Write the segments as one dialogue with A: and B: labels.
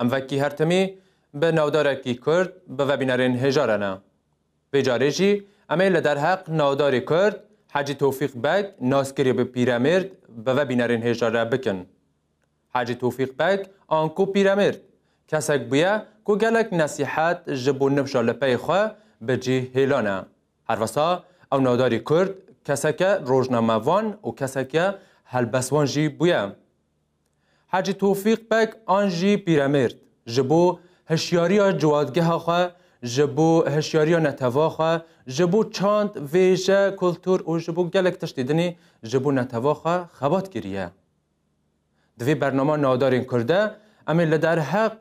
A: Em vekî her timî bi navdarekî Kurd bi vebînerên hêja re ne. Vê carê jî em ê li derheq navdarê Kurd Hecî Tofîq Beg naskirî bi Pîremêrd bi vebînerên hêja re bikin. Hecî Tofîq Beg an ku Pîremêrd, kesek bûye ku gelek nesîhet ji bo nifşa li pey xwe bi cih hêlane. Herwisa ew navdarî Kurd keseke rojnamevan û keseke helbestvan jî bûye. Hacî Tofîq Beg an jî Pîremêrd ji bo hişyariya ciwadgeha xwe, ji bo hişyariya neteva xwe, ji bo çand, vêje, kultur û ji bo gelek tiştê dinê ji bo neteva xwe xebat kiriye. Di vê bernama Navdarên Kurd de em ê li derheq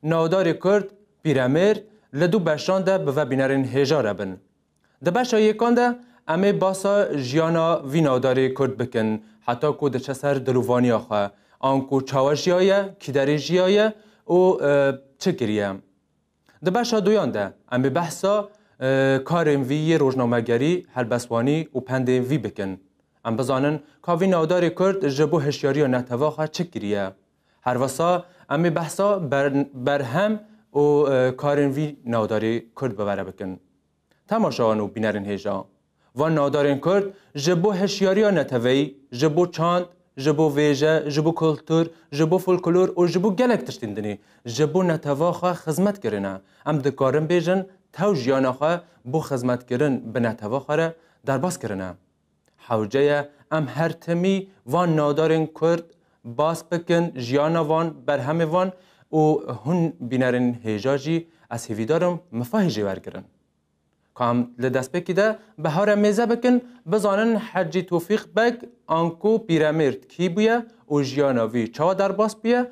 A: navdarê Kurd, Pîremêrd li du beşan de bi vebînerên hêja re bin. Di beşa yêkan de em ê basa jiyana vî navdarê Kurd bikin heta ku diçe ser dil û vaniya xwe, anku çawa jiyaye, kîderê jiyaye û çi kiriye. Di beşa duyan de em ê behsa karên vî yê rojnamegerî, helbestvanî û pendên vî bikin. Em bizanin ka vî navdarê Kurd ji bo hişyariya netew'a xwe çi kiriye. Her wisa em ê behsa berhem û karên vî navdarê kurd bi were bikin. Temaşawan û bînerên hêja van navdarên kurd ji bo hişyariya neteweyî, ji bo çand, ji bo vêje, ji bo kultur, ji bo folklor û ji bo gelek tiştên dinê ji bo netewa xwe xizmet kirine. Em dikarin bêjin tew jiyana xwe bo xizmetkirin bi netewa xwe re derbas kirine. Hewce ye em her timî van navdarên Kurd bas bikin, jiyana van, berhemê van û hûn bînerên hêja jî ez hêvîdar im mifahê jê wergirin. Ka em li destpêkî de bi hew re mêze bikin, bizanin Hecî Tofîq Beg anko Pîremêrd kî bûye û jiyana vî çawa derbas bûye,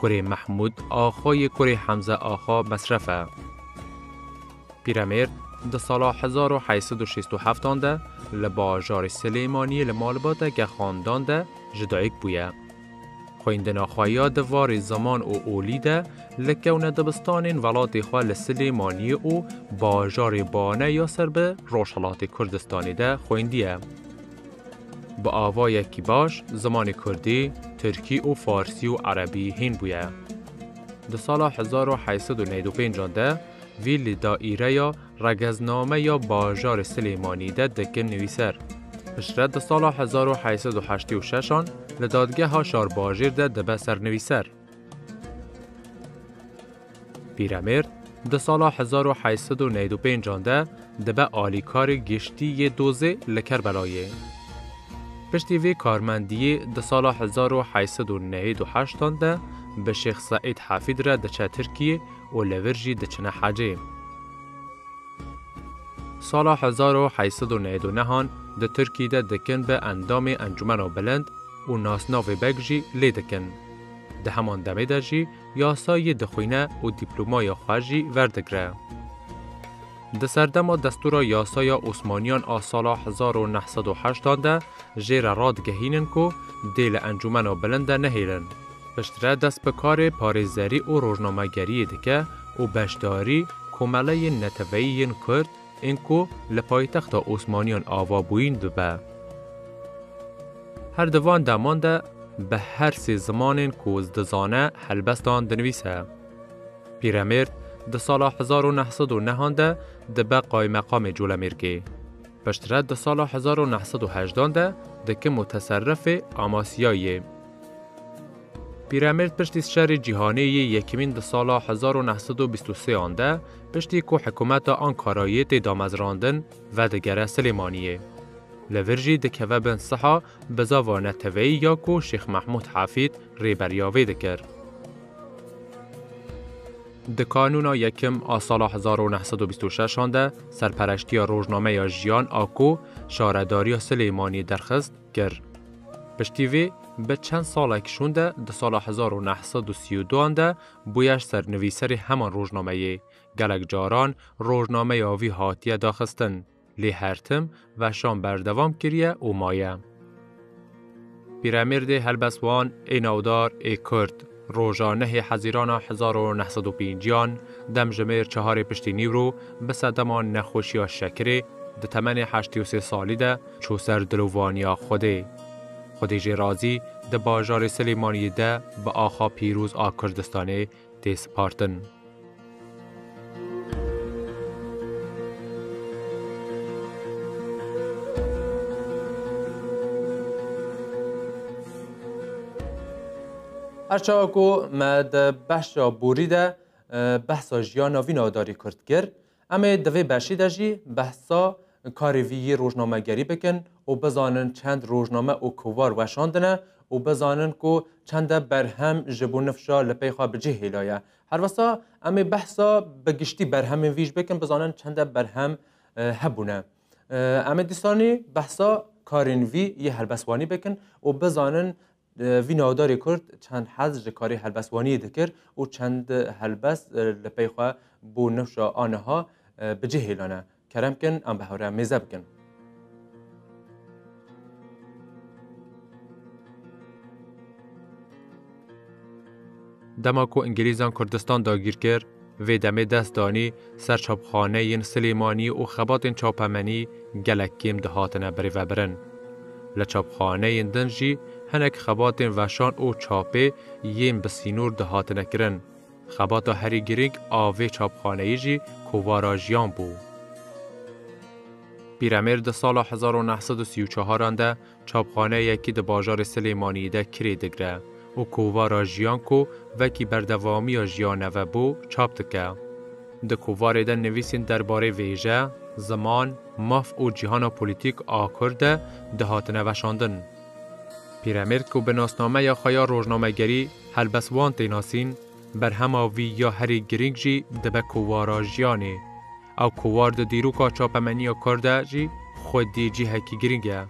A: Kurê Mehmûd Axa yê kurê Hemze Axa Mesref e. Pîremêrd di sala hezar û heşt sed û şêst û heft an de li bajarê Silêmaniyê li malbateke xandan de ji dayik bûye. Xwendina xwe ya di varê ziman û olî de li kewne dibistanên welatê xwe li Silêmaniyê û bajarê Bane ya ser bi Rojhilatê Kurdistanê de xwendiye. Bi avayekî baş zimanê kurdî, tirkî û farsî û erebî hîn bûye. Di sala hezar û heşt sed û newî û pênc de vî li daîreya Regezname ya bajarê Silêmanî de dikin nivîser. Piştre di sala hezar û heşt sed û heştê û şeş an li dadgeha Şarbajêr de dibe sernivîser. Pîremêrd di sala hezar û heşt sed û newî du pêncan de dibe alîkarê giştî yê dozê li Kerbelayê. Piştî vê karmendiyê di sala hezar û heşt sed û newî du heştan de bi Şêx Seîd Hefîd re diçe Tirkiyê û li vir jî diçine hecê. Sala hezar û heşt sed û newî du nehan di Tirkî de dikin bi endamê Encumena Bilind û nasnavê Beg jî lê dikin. Di heman demê de jî yasa yê dixwîne û dîplomaya xwe jî verdigre. Di serdema destûra yasaya Osmaniyan a sala hezar û neh sed û heştan de jê re radigehînin ku dê li encûmena bilind de nehêlin. Piştre dest bi karê parêzerî û rojnamegeriyê dike û beşdarî komeleyên neteweyî yên Kurd, Ên ku li paytexta Osmaniyan ava bûyîn bibe. Her di van deman de bi her sê zimanên ku dizane helbestan dinivîse. Pîremêrd di sala hezar û neh sed û nehan de dibe qaymeqamê Colemêrgê. Piştre di sala hezar û neh sed û hejdan de dikim muteserrifê Amasiyayê. Pîremêrd piştî şerê cîhanê yê yekîmîn di sala hezar û neh sed û bîst û sêyan de piştî ku hikûmeta Ankarayê tê damezrandin vedigere Silêmaniyê. Li vir jî dikeve bin siha bi zava neteweyî ya ku Şêx Mehmûd Hefîd rêberiya vê dikir. Di kanûna yekim a sala hezar û neh sed û bîst û şeşan de serpereştiya rojnameya Jiyan a ku şaredariya Silêmaniyê derxist, kir. Piştî vê bi çend salek şûnde di sala hezar û neh sed û sî û duan de bûyer sernivîserê heman rojnameyê. Gelek caran rojnameya vî hatiye daxistin, lê her tim veşan berdewam kiriye û maye. Pîremêrdê helbestwan ê navdar ê Kurd. Roja nehê hezîrana hezar û neh sed û pêncîyan demjimêr çeharê piştî nîwro bi sedema nexweşiya şekirê di temenê heştî û sê salî de çû ser dilovaniya Xwedê. Xwedê jê razî di bajarê Silêmaniyê de bi axa pîroz a Kurdistanê tê spartin. Her çawa ku me di behşa borî de behsa jiyana vî nadarî kurd kir, em ê di vê beşî de jî behsa karê vî yê rojnamegerî bikin û bizanin çend rojname û kovar weşandine û bizanin ku çende berhem ji bo nifşa li pey xwe bi cih hêlaye. Herwisa em ê behsa bi giştî berhemên vî jî bikin bizanin çende berhem hebûne. Em ê dîsanî behsa karên vî yê helbestwanî bikin û bizanin vî navdarê Kurd çend hez ji karê helbestwaniyê dikir û çend helbest li pey xwe bo newşa aniha bi cih hêlane. Kerem kin em bi hewreya mêze bikin. Dema ku Îngilîzan Kurdistan dagîr kir, vê demê dest danî ser çapxaneyên Silêmanî û xebatên çapemenî gelek kêm dihatine birêvebirin. Li çapxaneyên din jî hinek xebatên veşan û çapê yên bi sînor dihatine kirin. Xebata herî girîng a vê çapxaneyî jî kovara jiyan bû. Pîremêr di sala hezar û neh sed û sî û çaharan de çapxaneyekî di bajarê Silêmaniyê de kirê digre û kovara jiyan ku vekî berdevamiya jiyane ve bû çap dike. Di kovarê de nivîsên derbarê vêje, ziman, maf û cîhana polîtîk a Kurd de dihatine veşandin. Pîremêrd ku bi nasnameya xwe ya rojnamegerî helbest wan tê nasîn, berhema vî ya herî girîng jî dibe kovara jiyanê. Ew kovar di dîroka çapemeniya kar de jî xwedî cihekî girîng e.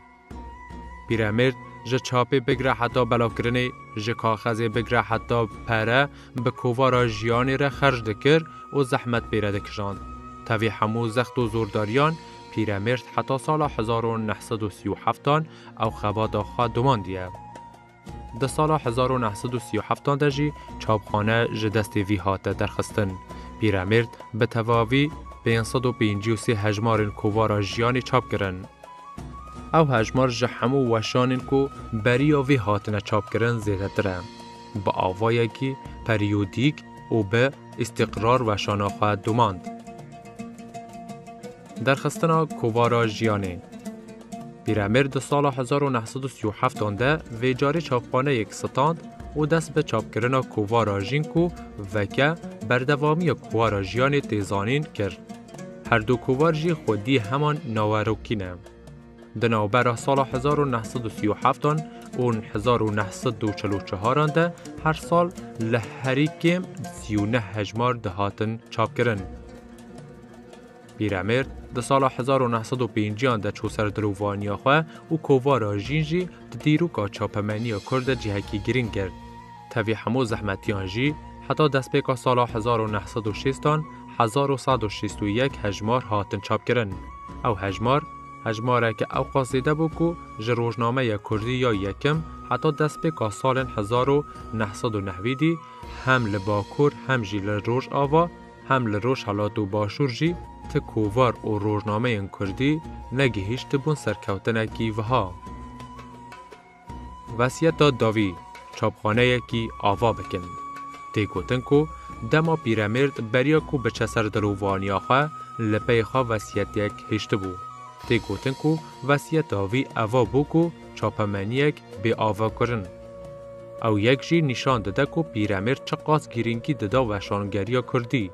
A: Pîremêrd ji çapê bigire heta belavkirinê, ji kaxezê bigire heta pere bi kovara jiyanê re xerc dikir û zehmet pê re dikijand. Tevî hemû zext û zordariyan Pîremêrd heta sala hezar û neh sed û sî û heftan Ew xebata xwe domandiye. Di sala hezar û neh sed û sî û heft de jî çapxane ji destê vî hate derxistin. Pîremêrd bi tevavî pênc sed û pêncî û sê hejmarên kovara jiyanê çap kirin. Ew hejmar ji hemû weşanên ku beriya vê hatine çapkirin zêdetir e. Bi avayekî periyodîk û bi îstîqrar weşana xwe domand. Derxistina kovara jiyanê. Pîremir di sala hezar û neh sed û sî û heft an de vê carî çapxaneyek stand û dest bi çapkirina kovara Jin ku veke berdevamiya kuwara jiyanê tê zanîn kir. Her du kovar jî xwedî heman nawerokî ne. Di navbera sala hezar û neh sed û sî û heft an ûn hezar û neh sed û çil û çar an de her sal li herî kêm sî û neh hejmar dihatin çapkirin. Pîremêrd di sala hezar û neh sed û pênciyan de çû ser dirovaniya xwe û kovara jîn jî di dîroka çapemeniya Kurd de cihekî girîng girt. Tevî hemû zehmetiyan jî heta destpêka sala hezar û neh sed û şêstan hezar û sed û şêst û yek hejmar hatin çapkirin. Ew hejmar, hejmareke ewqas zêde bû ku ji rojnameya Kurdî ya Yekim heta destpêka salên hezar û neh sed û neh wî dî hem li Bakur hem jî li Rojava, Hem li Rojhilat û Başûr jî ti kovar û rojnameyên kurdî negihîştibûn serkewtinekî wiha. Wesiyeta dawî çapxaneyekî ava bikin. Tê gotin ku dema pîremêrd beriya ku biçe ser dil û vaniya xwe li pey xwe wesiyetêk hiştibû. Tê gotin ku wesiyeta wî eva bû ku çapemeniyek bê ava kirin. Ew yek jî nîşan dide ku Pîremêrd çiqas girîngî dida weşangeriya Kurdî.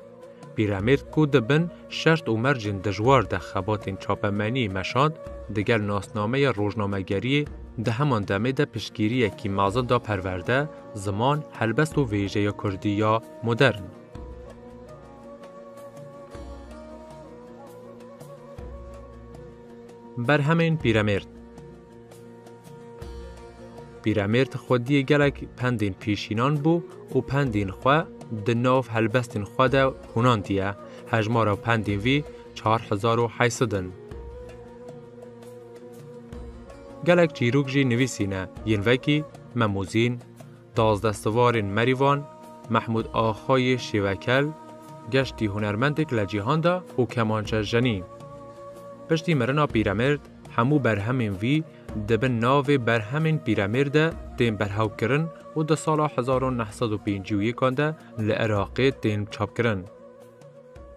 A: Pîremêrd ku di bin şert û mercên dijwar de xebatên çapemeniyê meşand, digel nasnameya rojnamegeriyê di heman demê de piştgiriyekî mezin da perwerde, ziman, helbest û vêjeya Kurdî ya modern. Berhemên Pîremêrd Pîremêrd xwediyê gelek pendên pêşînan bû û pendên xwe di nav helbestên xwe de hûnandiye. Hejmara pendên vî 4800 in. Gelek çîrok jî nivîsîne yên vekî Memûzîn, Dazdestevarên Merîvan, Mehmûd Axa yê Şêwekel, geştî hunermendek le cîhan de û kemançe jenî. Piştî mirina Pîremêrd hemû berhemên vî di bin navê Berhemên Pîremêrd de tên berhewkirin û di sala hezar û neh sed û pêncî û yek an de li Iraqê tên çapkirin.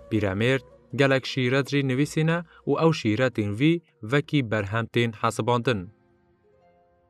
A: Pîremêrd gelek şîret jî nivîsîne û ew şîretên vî vekî berhem tên hesibandin.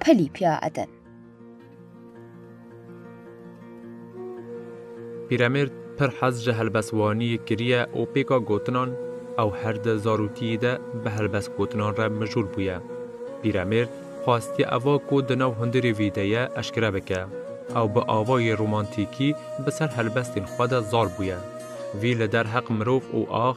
A: Pelî piya Eden. Pîremêrd pir hez ji helbestwaniyê kiriye û pêka gotinan ew her di zarokiyê de bi helbestgotinan re mijûl bûye. Pîremêrd xwestiye eva ku di nav hundirê vî de ye eşkere bike. Ew bi avayê romantîkî bi ser helbestên xwe de zar bûye. Vî li der heq mirov û ax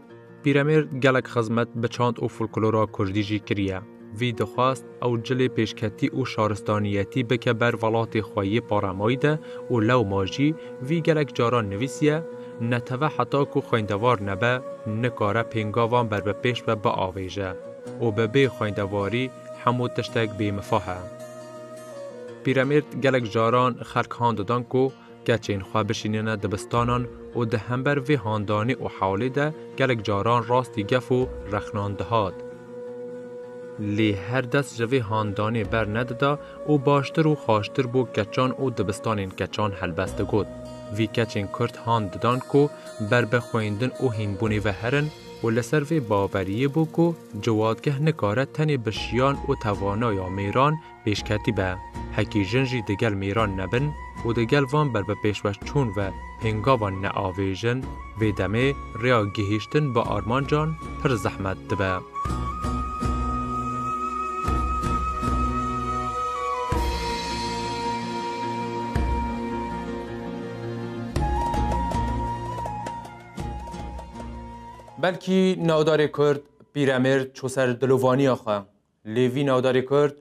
A: Pîremêr gelek xizmet bi çand û folklora kurdî jî kiriye. Vî dixwest ew cilê pêşketî û şaristaniyetî bike ber velatê xwe yê paremayî de û lewma jî vî gelek caran nivîsiye, Neteve heta ku xwendevar nebe, nikare pêngavan ber bi pêş ve biavêje û bi bê xwendevarî hemû tiştek bêmifa he. Pîremêr gelek caran xerk han didan ku Keçên xwe bişînîne dibistanan û di hember vê handanê û hewlê de gelek caran rastî gef û rexnan dihat. Lê her dest ji vê handanê ber nedida û baştir û xaştir bo keçan û dibistanên keçan helbest digot. Vî keçên Kurd hand didan ku ber bi xwendin û hînbûnê ve herin û li ser vê baweriyê bû ku ciwatgeh nikare tenê bi şiyan û tevanaya mêran pêşketî be. Hekî jin jî di gel mêran nebin û di gel van berbipêşwazçûn ve pêngavan neavêjin, vê demê rêya gihîştin bi armancan pir zehmet dibe. Belkî navdarê Kurd Pîremêrd çû ser dilovaniya xwe. Lê vî navdarê kurd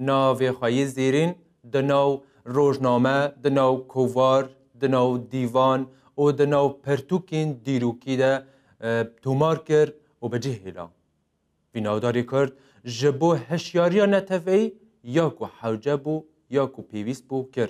A: navê xwe yê zêrîn di nav rojname, di nav kovar, di nav dîvan û di nav pirtûkên dîrokî de tomar kir û bi cih hêla. Vî navdarê kurd ji bo hişyariya neteweyî ya ku hewce bû ya ku pêwîst bû kir.